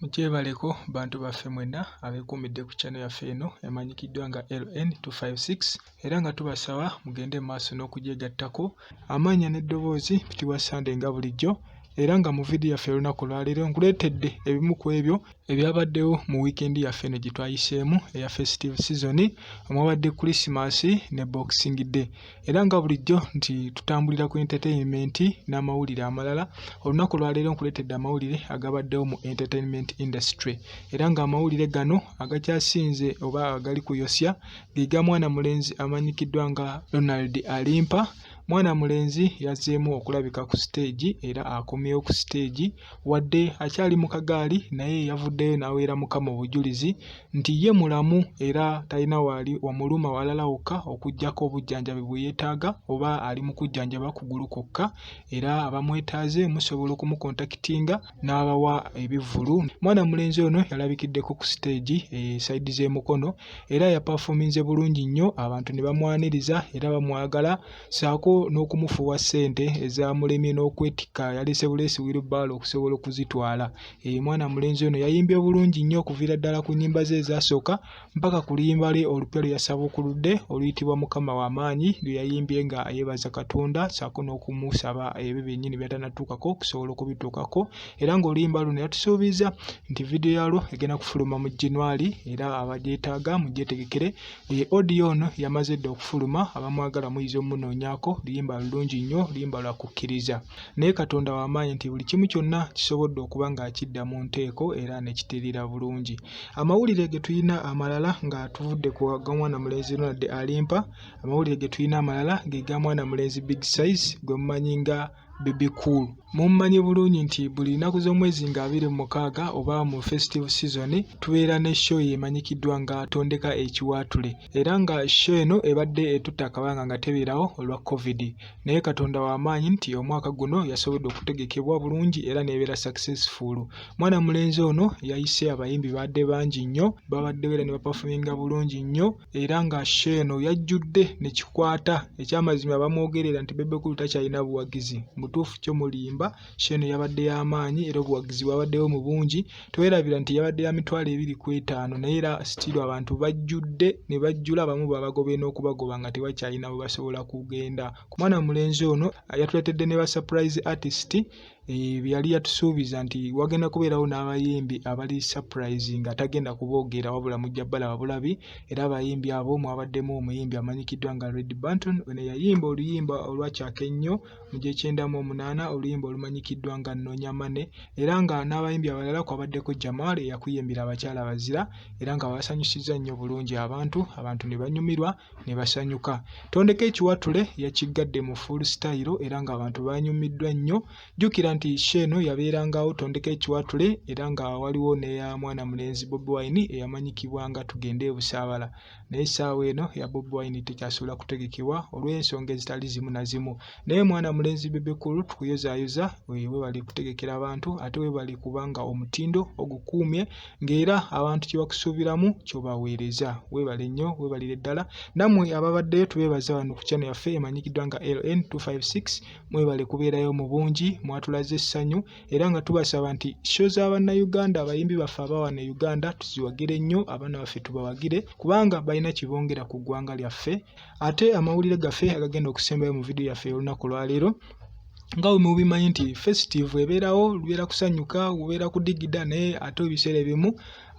Mukyebaleko bantu baffe mwenna abeekuumidde ku channel yaffe eno emanyikiddwa nga LN256 era nga tubasaba mugende mu maaso n'okugyegattako amannya n'eddoboozi Mpitibwa Sunday nga bulijjo era nga mu vidiyo yaffe olunaku olwaleero nkuleetedde ebimu ku ebyo ebyabaddewo mu wiikendi yaffe eno gye twayiseemu eya festive sizoni omwabadde krisimaasi ne boxing day era nga bulijjo nti tutambulira ku entertainment n'amawulire amalala olunaku lwaleero nkuleetedde amawulire agabaddewo mu entertainment industry era ng'amawulire gano agakyasinze oba agali kuyosya ge ga mwana mulenzi amanyikiddwa nga ronald alimpa mwana mulenzi yazzeemu okulabika ku siteegi era akomyewo ku siteegi Wadde akyali mu kagaali naye yavuddeyo n'aweera Mukama obujulizi nti ye mulamu era talina waali wamuluma walala wokka okuggyako obujjanjabi bwe yeetaaga oba ali mu kujjanjaba kugulu kwokka era abamwetaaze musobola okumukontakitinga n'abawa ebivvulu. Mwana mulenzi ono yalabikiddeko ku siteegi e sayidi z'e Mukono era yapafoominze bulungi nnyo abantu ne bamwaniriza era bamwagala. ssaako n'okumufuwa ssente ezaamulemye n'okwetikka yaleese buleesi wirubaalo okusobola okuzitwala. Eyo mwana mulenzi ono yayimbye bulungi nnyo okuviira ddala ku nnyimba ze ezaasooka mpaka ku luyimba lwe olupya lwe yasabukuludde oluyitibwa Mukama w'amaanyi lwe yayimbye nga yeebaza Katonda ssaako n'okumusaba ebyo byennyini byatanatuukako okusobola okubituukako era ng'oluyimba luno yatusuubiza nti vidiyo yalwo egenda kufuluma mu January era abagyetaaga mugyetegekere E, audio ono yamaze dda okufuluma abamwagala muyinza omunoonyako luyimba lulungi nnyo luyimba lwa kukkiriza naye katonda wamaanyi nti buli kimu kyonna kisobodde okuba ng'akidda mu nteeko era ne kiterera bulungi amawulire ge tulina amalala nga tuvudde ku ga mwana mulenzi ronald alimpa amawulire ge tulina amalala ge ga mwana mulenzi big size gwe mumanyi nga Bebe Cool. Mummanyi bulungi nti buli nnaku z'omwezi nga abiri mu mukaaga oba mu festive season tubeera ne show emanyikiddwa nga Tondeka Ekiwaatule era nga show eno ebadde etutte akabanga nga tebeerawo olwa Covid naye Katonda wa maanyi nti omwaka guno yasobodde okutegekebwa bulungi era n'ebeera successful. Mwana mulenzi ono yayise abayimbi baadde bangi nnyo babadde beera ne bapafuminga bulungi nnyo era nga sheeno yajjudde ne kikwata ekyamazima bamwogerera nti bebe kulu takyalina buwagizi mutuufu kyo mulimba sheeno yabadde y'amaanyi era obuwagizi bwabaddewo mu bungi tewerabira nti yabadde ya mitwalo ebiri ku etaano naye era sitiiru abantu bajjudde ne bajjula abamu babagobye n'okubagoba nga tebakyalina bwe basobola kugenda ku mwana mulenzi ono yatuletedde ne ba surprise artist Eh, bye yali yatusuubiza nti wagenda kubeerawo n'abayimbi abali surprise nga tagenda kuboogeera wabula mujja balaba bulabi era abayimbi abo mwabaddemu omuyimbi amanyikiddwa nga red banton ono yayimba oluyimba olwakyaka ennyo mu gyekyenda mu omunaana oluyimba olumanyikiddwa nga nnoonya mane era nga n'abayimbi abalala kwabaddeko jamal eyakuyimbira abakyala bazira era nga babasanyusizza nnyo bulungi abantu abantu ne banyumirwa ne basanyuka. Tondeka ekiwatule yakiggadde mu full style era ng'abantu baanyumiddwa nnyo. Jjukira nti sho eno yabeerangawo Tondeka ekiwatule era nga waliwo n'eya mwana mulenzi Bobi Wine eyamanyikibwa nga Tugende e Busaabala naye essaawa eno eya Bobi Wine tekyasobola kutegekebwa olw'ensonga ezitali zimu na zimu. naye mwana mulenzi bebe kulu tukuyozaayoza webali kutegekera abantu ate webali kubanga omutindo ogukuumye ng'era abantu kye bakusuubiramu kyobaweereza webale nnyo webalire ddala nammwe ababaddeyo tubeebaza wano ku kyano yaffe emanyikiddwa nga ln 256 mwebale kubeerayo mu bungi mwatulaze essanyu era nga tubasaba nti sho za bannayuganda abayimbi baffe abawana e uganda tuziwagire nnyo abaana baffe tubawagire kubanga balina kibongera ku ggwanga lyaffe ate amawulire gaffe agagenda okusembayo mu vidiyo yaffe olunaku lwaleero nga wemubimanyi nti festive ebeerawo lubeera kusanyuka ubeera kudigida naye ate ebiseera ebimu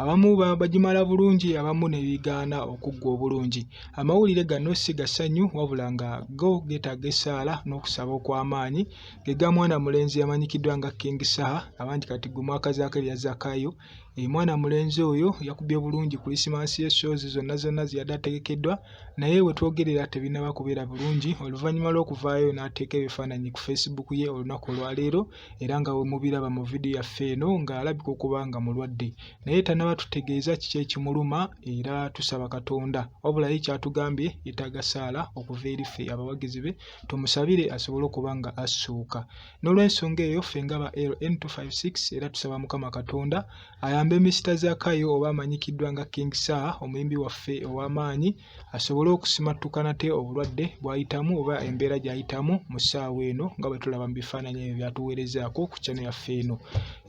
abamu bagimala bulungi abamu nebigaana okuggwa obulungi amawulire gano si gasanyu wabula nga go getaaga essaala n'okusaba okw'amaanyi gega mwana mulenzi yamanyikiddwa nga king saha abangi kati gwe mwaka zaako erya zakayo Eh, mwana mulenzi oyo yakubye bulungi kulisimansi ye shoozi zonna zonna zeyadde ategekeddwa naye wetwogerera tebinaba kubeera bulungi oluvannyuma lw'okuvaayo n'ateeka ebifaananyi ku facebook ye olunaku olwaleero era nga wemubiraba mu vidiyo yaffe eno ng'alabika okuba nga mulwadde naye tanaba tutegeeza kiki ekimuluma era tusaba katonda wabula ye kyatugambye yetaaga saala okuva eri ffe abawagizi be tumusabire asobole okuba nga assuuka N'olwensonga eyo ffe nga ba LN256 era tusaba Mukama Katonda ayambe Mister Zakayo oba amanyikiddwa nga King Saha omuyimbi waffe ow'amaanyi asobole okusimattuka nate obulwadde bw'ayitamu oba embeera gy'ayitamu mu ssaawa eno nga bwe tulaba mu bifaananyi ebyo by'atuweerezaako ku channel yaffe eno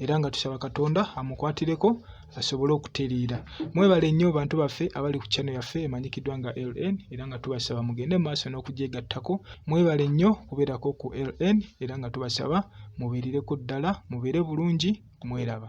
era nga tusaba Katonda amukwatireko basobole okutereera mwebale nnyo bantu baffe abali ku channel yaffe emanyikiddwa nga ln era nga tubasaba mugende mu maaso n'okugyegattako mwebale nnyo kubeerako ku ln era nga tubasaba mubeerereko ddala mubeere bulungi mweraba